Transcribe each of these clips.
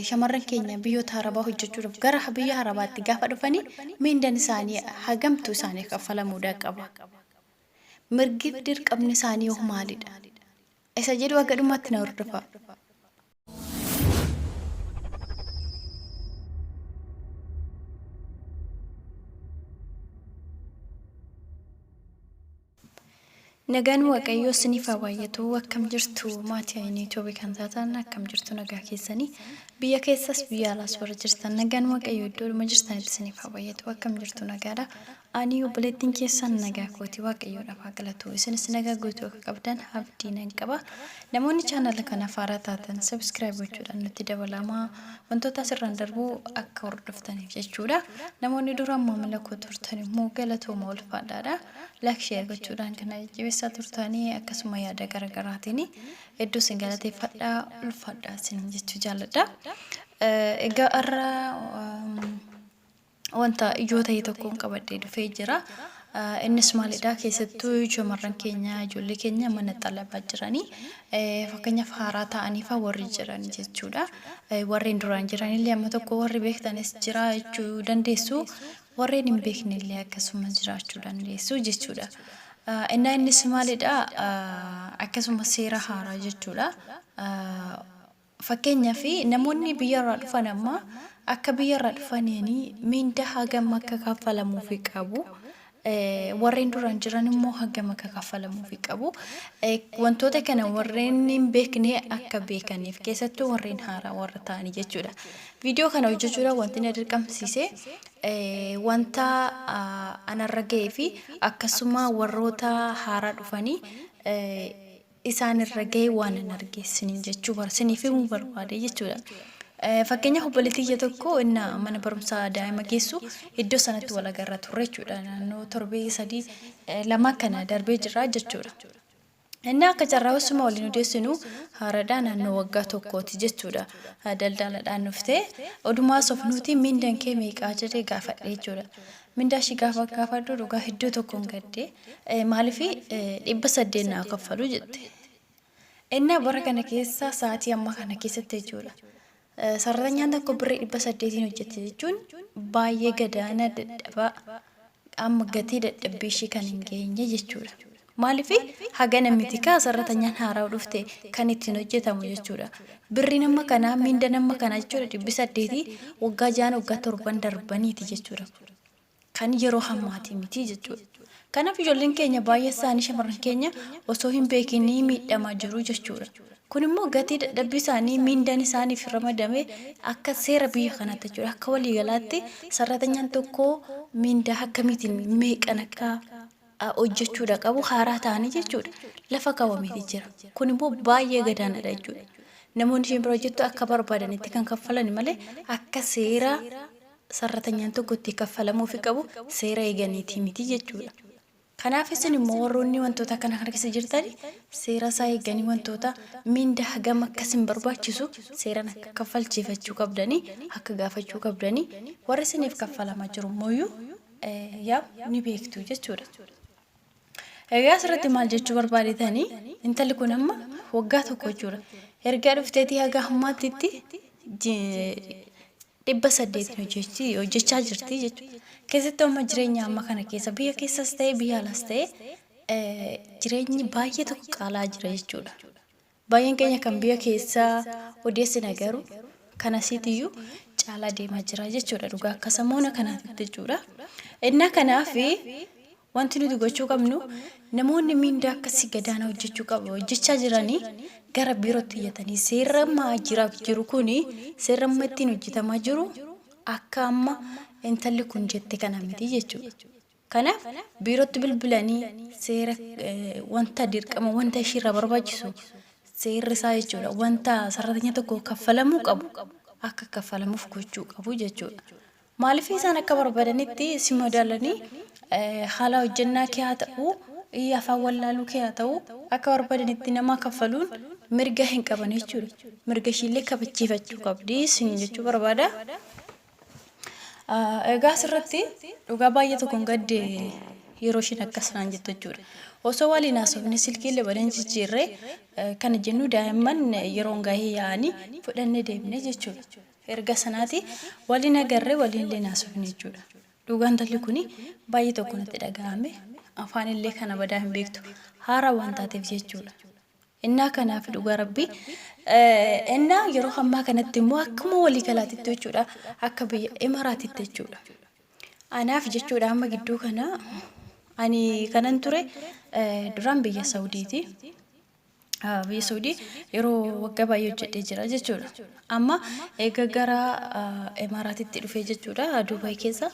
shamarran keenya biyyoota harabaa hojjechuudhaaf gara biyya harabaatti gaafa dhufanii miindan isaanii hagamtu isaaniif kaffalamuudhaa qaba. Mirgiif dirqamni isaanii hoo maalidha? Isa jedhu haga dhumaatti na hordofaa. Nagaan waaqayyoo sinif haa baay'atuu akkam jirtu maati ayinii tube kan taatan akkam jirtu nagaa keessani biyya keessas biyya alaas warra jirtan nagaan waaqayyoo iddoo dhuma jirtanitti sinif haa baay'atuu akkam jirtu nagaadha ani obboleettiin keessan nagaa kooti waaqayyoo dhafaa galatu isinis nagaa guutuu akka qabdan abdii nan qaba namoonni chaanala kana faaraa taatan sabiskiraayib gochuudhaan natti dabalamaa wantoota asirraan darbuu akka hordoftaniif jechuudha namoonni duraan maamila koo turtan immoo galatooma ulfaadhaadha Like share gochuudhaan kan na jajjabeessaa turtanii akkasuma yaada garaagaraatiin hedduu isin galateeffadha ulfaadha isiniin jechuu jaalladha. Eh, Egaa har'a um, wanta ijoo ta'e tokkoon qabadhee dhufee jira. Eh, Innis maalidha keessattuu shamarran keenya ijoollee keenya mana xalabaa jiranii eh, fakkeenyaaf haaraa ta'aniifa warri jiran jechuudha. Eh, Warreen duraan jiranillee amma tokko warri beektanis jira jechuu dandeessu. Warreen hin beekne illee akkasuma jiraachuu dandeessu jechuudha. Innaa innis maalidha? Akkasuma seera haaraa jechuudha. Fakkeenyaaf namoonni biyyarraa dhufan amma akka biyyarraa dhufaniini miindaa hagam akka kaffalamuufi qabu. Warreen duraan jiran immoo hagam akka kaffalamuufi qabu. Wantoota kana warreen hin beekne akka beekaniif keessattuu warreen haaraa warra ta'anii jechuudha. Viidiyoo kana hojjechuudhaaf wanti na dirqamsiise wanta anarra ga'ee fi akkasuma warroota haaraa dhufanii isaanirra ga'e waan hin argeessiniin jechuu bar siniif himuu barbaade jechuudha. Fakkeenyaaf obboleettii ija tokko inna mana barumsaa daa'ima geessu iddoo sanatti wal agarra turre jechuudha. Naannoo torbee sadii lama kana darbee jira jechuudha. Inni akka carraa osuma waliin odeessinu haaradhaa naannoo waggaa tokkooti jechuudha. Daldaaladhaan dhufte. Odumaa sofnuuti mindan kee meeqaa jedhee gaafadhe jechuudha. Mindaa ishii gaafa gaafadhu dhugaa hedduu tokkoon gadde. Maalifi dhibba saddeet naa kaffalu jette. Innaa bara kana keessa sa'aatii ammaa kana keessatti jechuudha. Sarratanyaan tokko birrii dhibba saddeetiin hojjette jechuun baay'ee gadaana dadhabaa amma gatii dadhabbii ishii kan hin geenye jechuudha. Maaliif hagana miti kaa sarratanyaan haaraa dhufte kan ittiin hojjetamu jechuudha. Birri nama kanaa miinda nama kanaa jechuudha dhibbi saddeetii waggaa ja'an waggaa torban darbaniiti jechuudha. kan yeroo hammaatii miti jechuudha. Kanaaf ijoolleen keenya baay'een isaanii shamarran keenya osoo hin beekinii miidhamaa jiru jechuudha. Kun immoo gatii dadhabbii isaanii miindaan isaaniif ramadame akka seera biyya kanaatti jechuudha. Akka waliigalaatti sarratanyaan tokko miindaa akkamiitiin meeqan akka ah, hojjechuudha qabu haaraa ta'anii jechuudha. Lafa kaawwameeti jira. Kun immoo baay'ee gadaanadha jechuudha. Namoonni isheen bira hojjettu akka barbaadanitti kan kaffalani malee akka seera sarratanyaan tokko itti kaffalamuufi qabu seera eeganiitii miti jechuudha. Kanaaf isin immoo warroonni wantoota kana kana keessa jirtani seera isaa eeganii wantoota mindaa hagam akka isin barbaachisu seeran akka kaffalchiifachuu qabdanii akka gaafachuu qabdanii warri isiniif kaffalamaa jiru immoo iyyuu yaa ni beektu jechuudha. Egaa asirratti maal jechuu barbaadetanii intalli kun amma waggaa tokko jechuudha. Ergaa dhufteetii haga ammaattitti dhibba saddeetiin hojjechaa jirti jechuudha. Keessattuu amma jireenya amma kana keessa biyya keessas ta'e biyya alas ta'e jireenyi baay'ee tokko qaalaa jira jechuudha. Baay'een keenya kan biyya keessaa odeessina garu kan asiitiyyuu caalaa deemaa jira jechuudha dhugaa akka samoona kanaatitti jechuudha. Innaa kanaaf wanti nuti gochuu qabnu namoonni miindaa akkasii gadaana hojjechuu qabu hojjechaa jiranii gara biirootti iyyatanii seerri amma jira jiru kun seerri amma ittiin hojjetamaa jiru akka amma intalli kun jette kana miti jechuudha. Kanaaf biirootti bilbilanii seera wanta dirqama wanta ishiirraa barbaachisu seerri isaa jechuudha wanta sarratanya tokko kaffalamuu qabu akka kaffalamuuf gochuu qabu jechuudha. Maaliif isaan akka barbaadanitti si madaalanii haala hojjannaa kee haa ta'u afaan wallaaluu kee haa ta'u akka barbaadanitti nama kaffaluun mirga hin qaban jechuudha. Mirga ishiillee kabachiifachuu qabdi isin jechuu barbaada. Egaa asirratti dhugaa baay'ee tokkon gadde yeroo ishiin akkas naan jettu jechuudha. Osoo waliin haasofne silkiillee waliin jijjiirree kana jennu daa'imman yeroon gahee yaa'anii fudhannee deemne jechuudha. Erga sanaati waliin agarree waliinillee haasofne jechuudha. Dhugaan talli kun baay'ee tokko natti dhaga'ame afaanillee kana badaa hin beektu haara waan taateef jechuudha. Ennaa kanaaf dhugaa rabbii ennaa yeroo ammaa kanatti immoo akkuma walii galaatitti jechuudha akka biyya imaraatitti jechuudha. Anaaf jechuudha amma gidduu kana ani kanan ture duraan biyya Sawudiiti. Biyya Sawudii yeroo waggaa baay'ee hojjedhee jira jechuudha. Amma eega gara imaraatitti dhufee jechuudha Duubaay keessa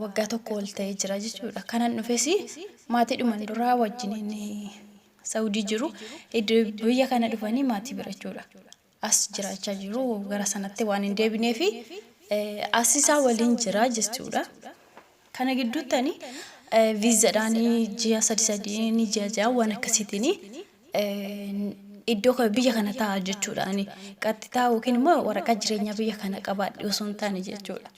waggaa tokko ol ta'ee jira jechuudha. Kanan dhufes maatiidhuman duraa wajjin Saudi jiru id biyya kana dhufanii maatii bira jechuudha. As jiraachaa jiru gara sanatti waan hin deebinee fi as isaa waliin jira jechuudha. Kana gidduutti ani viizadhaan ji'a sadi sadiin ji'a ja'a waan akkasiitiin iddoo kana- biyya kana ta'a jechuudha. Ani qaxxitaa yookiin immoo waraqaa jireenyaa biyya kana qabaadhe osoo hin taane jechuudha.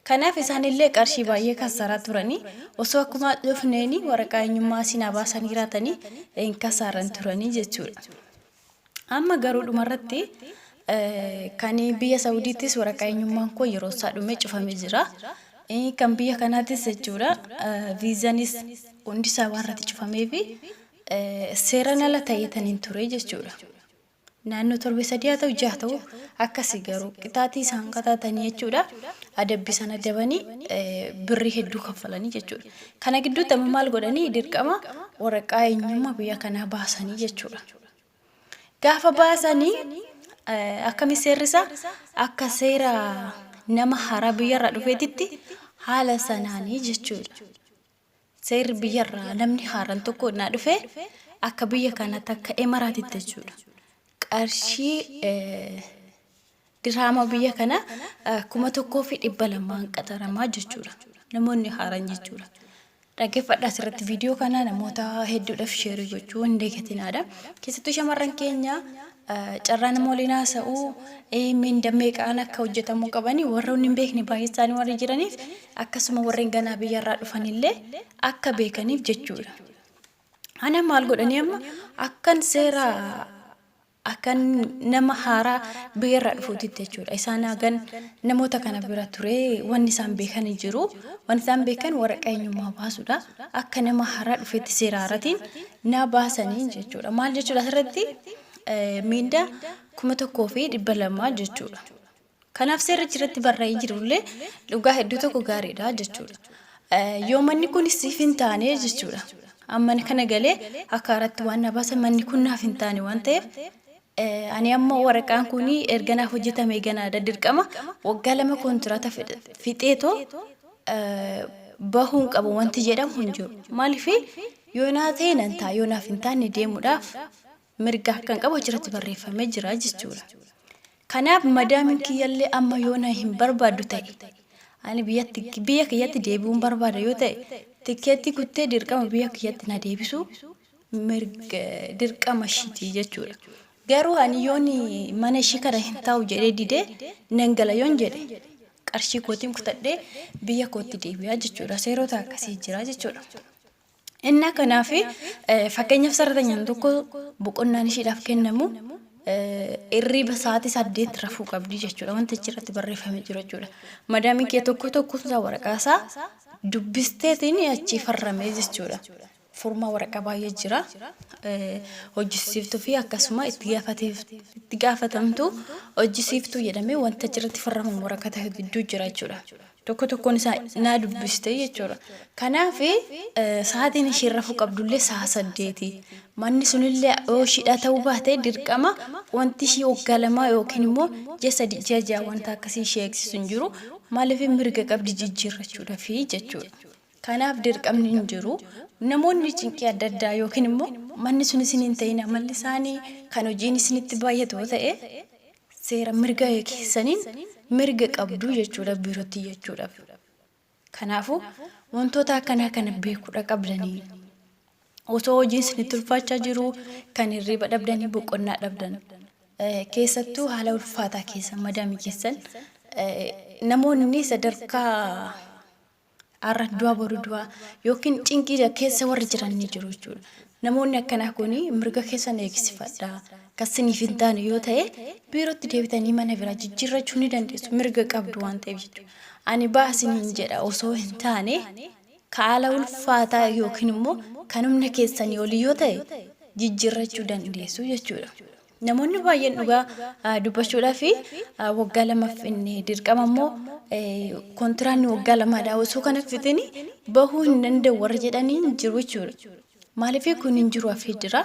Kanaaf isaanillee qarshii baay'ee kassaraa turani. Osoo akkuma dhufneeni waraqaa eenyummaa asii naa baasanii jiraatanii hin kassaaran turani jechuudha. Amma garuu dhumarratti kan biyya Sawudiittis waraqaa eenyummaan koo yeroo isaa dhumee cufamee jira. Kan biyya kanaattis jechuudha viizanis hundi isaa waan irratti cufameefi seeran ala ta'eetaniin ture jechuudha. Naannoo torbe sadii haa ta'u jaha ta'u akkasi garuu qixaatii isaan qataatanii jechuudha adabbi isaan adabanii birrii hedduu kaffalanii jechuudha. Kana gidduutti amma maal godhanii dirqama waraqaa eenyummaa biyya kanaa baasanii jechuudha. Gaafa baasanii akkami seerrisa akka seera nama haaraa biyyarraa dhufeetitti haala sanaanii jechuudha. Seerri biyya irraa namni haaran tokko innaa dhufe akka biyya kanaatti akka Emaraatitti jechuudha. Qarshii eh, diraama biyya kana eh, kuma tokkoo fi dhibba lamaan qaxaramaa jechuudha. Namoonni haaran jechuudha. Dhaggeeffadhaa asirratti viidiyoo kana namoota hedduudhaaf sheerii gochuu hin deegatinaadha. Keessattuu shamarran keenya Carraa nama waliin haasa'uu, eh, minda meeqaan akka hojjetamuu qabanii warroonni hin beekne baay'ee isaanii warri jiraniif akkasuma warreen ganaa biyyarraa dhufanillee akka beekaniif jechuudha. Ana maal godhanii amma akkan seera akkan nama haaraa biyyarraa dhufuutitti jechuudha. Isaan hagan namoota kana bira ture wanni isaan beekan hin jiru. Wanni isaan beekan waraqaa eenyummaa baasuudha. Akka nama haaraa dhufetti seera haaratiin naa baasanii jechuudha. Maal jechuudha asirratti miinda kuma tokkoo fi dhibba lamaa jechuudha. Kanaaf seerri irratti barraa'ee jirullee dhugaa hedduu tokko gaariidha jechuudha. Yoo manni kun siif hin taane jechuudha. Amma kana galee akka irratti waan na baasa manni kun naaf hin taane waan ta'eef Ani ammoo waraqaan kun erga naaf hojjetamee ganaadha. Dirqama waggaa lama kontiraata fixeetoo bahuun qabu wanti jedhamu hin jiru. Maaliif yoo naa ta'e nan ta'a yoo naaf hin taane deemuudhaaf mirga akkan qabu achirratti barreeffamee jira jechuudha. Kanaaf madaamin kiyyallee amma yoo na hin barbaaddu ta'e ani biyyatti biyya kiyyatti deebi'uun barbaada yoo ta'e tikkeetti kuttee dirqama biyya kiyyatti na deebisuu mirga dirqama ishiti jechudha garuu ani yoon mana ishii kana hin taa'u jedhee didee nan gala yoon jedhe qarshii kootiin kutadhee biyya kootti deebi'aa jechuudha seerota akkasii jira jechuudha. Innaa kanaaf fakkeenyaaf sarratanyaan tokko boqonnaan ishiidhaaf kennamu irriiba sa'aatii saddeet rafuu qabdi jechuudha wanta achirratti barreeffamee jiru jechuudha. Madaamii kee tokko tokko isaa waraqaa isaa dubbisteetiin achii farramee jechuudha. forma waraqa baay'ee jira hojjisiiftu fi akkasuma itti gaafatamtu hojjisiiftuu jedhamee wanta achirratti farraman waraqata gidduu jira jechuudha. Tokko tokkoon isaa naa dubbiste jechuudha. Kanaaf sa'aatiin ishee rafuu qabdullee sa'a saddeeti. Manni sunillee yoo ishiidhaa ta'uu baate dirqama wanti ishii waggaa lamaa yookiin immoo ji'a sadii ji'a ja'a wanta akkasii ishee eegsisu hin jiru. Maaliif mirga qabdi jijjiirrachuudhaaf jechuudha. Kanaaf dirqamni hin jiru. Namoonni cinqii adda addaa ykn immoo manni sun isin hin ta'in amalli isaanii kan hojiin isinitti baay'atu yoo ta'e seera mirga keessaniin mirga qabdu jechuudha biirootti iyyachuudhaaf. Kanaafuu wantoota akkanaa kana beekuudha qabdanii. Osoo hojiin isinitti ulfaachaa jiruu kan hirriiba dhabdanii boqonnaa dhabdan eh, keessattuu haala ulfaataa keessa madaamii keessan eh, namoonni sadarkaa Har'a du'a boru du'a yookiin cinqii keessa warri jiran ni jiru jechuudha. Namoonni akkanaa kun mirga keessan eegsifadhaa. Kan siniif hin taane yoo ta'e biirootti deebitanii mana biraa jijjiirrachuu ni dandeessu. Mirga qabdu waan ta'eef jechuudha. Ani baha siniin jedha osoo hin taane ka haala ulfaataa yookiin immoo kan humna keessanii olii yoo ta'e jijjiirrachuu dandeessu jechuudha. Namoonni baay'een dhugaa dubbachuudhaaf waggaa lamaaf inni dirqama immoo kontiraanni waggaa lamaadha osoo kana fitin bahuu hin danda'u warra jedhanii hin jiru jechuudha. Maaliif kun hin jiru hafee jira.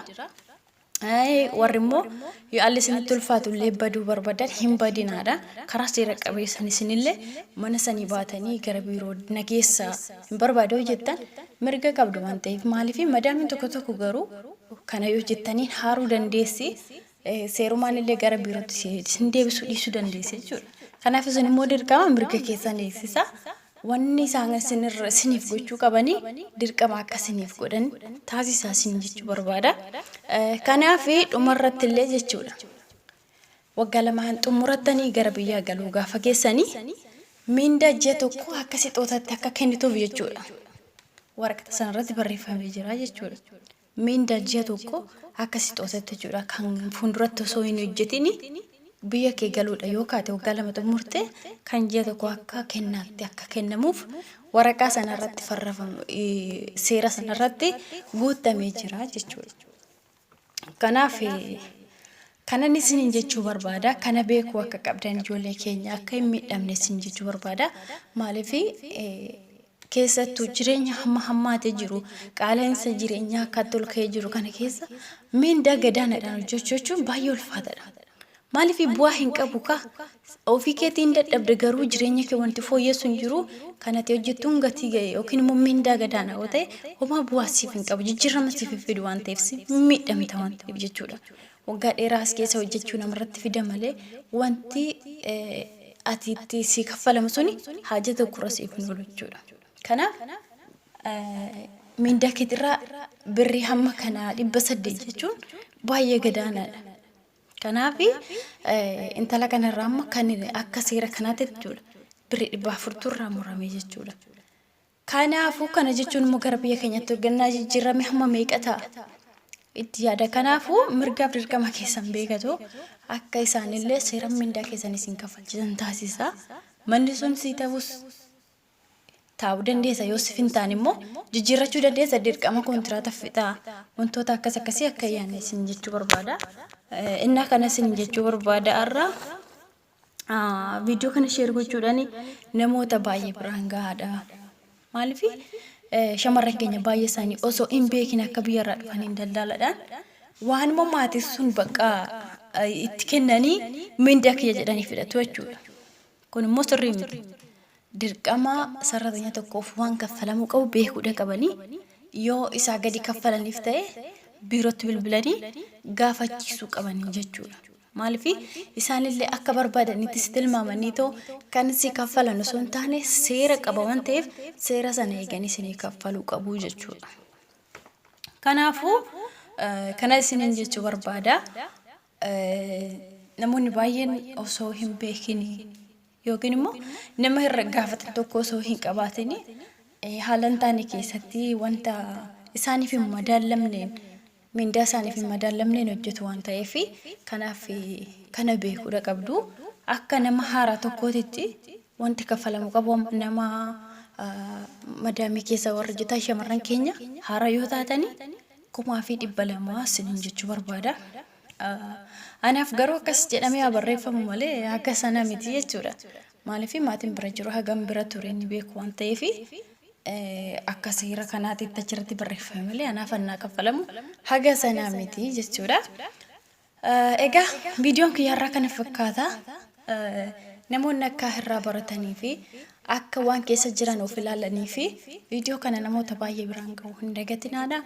Warri immoo yoo alli isinitti ulfaatu illee baduu barbaadan hin badinaadha. Karaa seera qabeessan isinillee mana sanii baatanii gara biiroo na geessaa hin barbaadoo jettan mirga qabdu waan ta'eef maaliif madaamiin tokko tokko garuu Kana yoo jettaniin haaruu dandeessi, seerumaan illee gara biirootti si- isin deebisuu dhiisuu dandeessi jechuudha. Kanaaf isin immoo dirqama mirga keessan eegsisa. Wanni isaan isin irra isiniif gochuu qabanii dirqama akka isiniif godhan taasisaa isin jechuu barbaada. Eh, Kanaaf dhumarratti illee jechuudha. Waggaa lamaan xummurattanii gara biyyaa galuu gaafa geessani miindaa ji'a tokkoo akka sixootaatti akka kennituuf jechuudha. Waraqata sanarratti barreeffamee jira jechuudha. Miindaa ji'a tokkoo akka sixootaatti jechuudha kan fuulduratti osoo hin hojjetin biyya kee galuudha yoo kaate waggaa lama xummurte kan ji'a tokko akka kennaatti akka kennamuuf waraqaa sanarratti farrafamu seera sanarratti guuttamee jira jechuudha. Kanaaf kanan isiniin jechuu barbaada kana beekuu akka qabdan ijoollee keenya akka hin miidhamne isin jechuu barbaada maaliif keessattuu jireenya hamma hammaatee jiru qaala'insa jireenyaa akka tolkee jiru kana keessa miindaa gadaanaadhaan hojjechuu jechuun baay'ee ulfaataadha. Maalifi bu'aa hin qabu kaa? Ofii keetii hin dadhabde garuu jireenya kee wanti fooyyessu hin jiru kan ati hojjettuun gatii ga'e yookiin immoo mindaa gadaana yoo ta'e homaa bu'aa siif hin qabu jijjiirrama siif hin fidu waan ta'eef si miidhamta waan ta'eef jechuudha. Waggaa dheeraa as keessa hojjechuu namarratti fida malee wanti ati itti si kaffalamu suni haaja tokkorra siif hin oolu jechuudha. Kanaaf mindaa keetirraa birrii hamma kanaa dhibba saddeet jechuun baay'ee gadaanaadha. Kanaaf intala kana irraa amma kan akka seera kanaatti jechuudha birri dhibba afurtu irraa murame jechuudha. Kanaafuu kana jechuun immoo gara biyya keenyatti hoggannaa jijjiirame hamma meeqa ta'a? Itti yaada. Kanaafuu mirgaaf dirqama keessan beekatu akka isaanillee seera mindaa keessan isin kaffalchisan taasisa. Manni sun sii ta'us taa'uu dandeessa yoo sif hin taane immoo jijjiirrachuu dandeessa dirqama kontiraata fixaa wantoota akkas akkasii akka hin yaanne isin jechuu barbaada. Eh, Innaa kana isin jechuu barbaada har'a ah, viidiyoo kana sheer gochuudhaan namoota baay'ee biraan gahaadha. Maaliif shamarran keenya baay'ee isaanii osoo hin beekin akka biyyarraa dhufaniin daldaaladhaan waanuma maatiin sun bakka eh, itti kennanii mindaa kiyya jedhanii fudhatu jechuudha. Kun immoo sirrii miti. dirqama sarratanya tokkoof waan kaffalamuu qabu beekuudha qabanii yoo isaa gadi kaffalaniif ta'e biirootti bilbilanii gaafachiisuu qabanii jechuudha. Maaliif isaanillee akka barbaadanitti si tilmaamanii too kan si kaffalan osoo hin taane seera qaba waan ta'eef seera sana eeganii isinii kaffaluu qabu jechuudha. Kanaafuu kana isiniin jechuu barbaada. namoonni baay'een osoo hin beekin yookiin immoo nama irra gaafatan tokko osoo hin qabaatin haala hin taane keessatti wanta isaaniif hin madaallamneen mindaa isaaniif hin madaallamneen hojjetu waan ta'eef kanaaf kana beekuudha qabdu akka nama haaraa tokkootitti wanti kaffalamu qabu nama madaamii keessa warra hojjetan shamarran keenya haaraa yoo taatanii kumaa fi dhibba lama isiniin jechuu barbaada. Anaaf garuu akkas jedhamee haa barreeffamu malee haga sana miti jechuudha. Maaliif maatiin bira jiru hagam bira ture ni beeku waan ta'eef akka seera kanaatitti achirratti barreeffame malee anaaf hannaa kaffalamu haga sana miti jechuudha. Egaa viidiyoon kiyya har'aa kana fakkaata. Namoonni akka irraa baratanii fi akka waan keessa jiran of ilaalanii fi viidiyoo kana namoota baay'ee biraan ga'u hin dagatinaadha.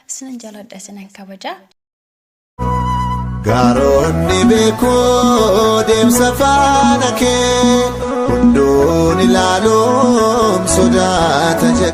Isinan jaaladha isinan kabaja. Gaaronni beekoo deemsa faana kee hunduun ilaaluun sodaata jedhe.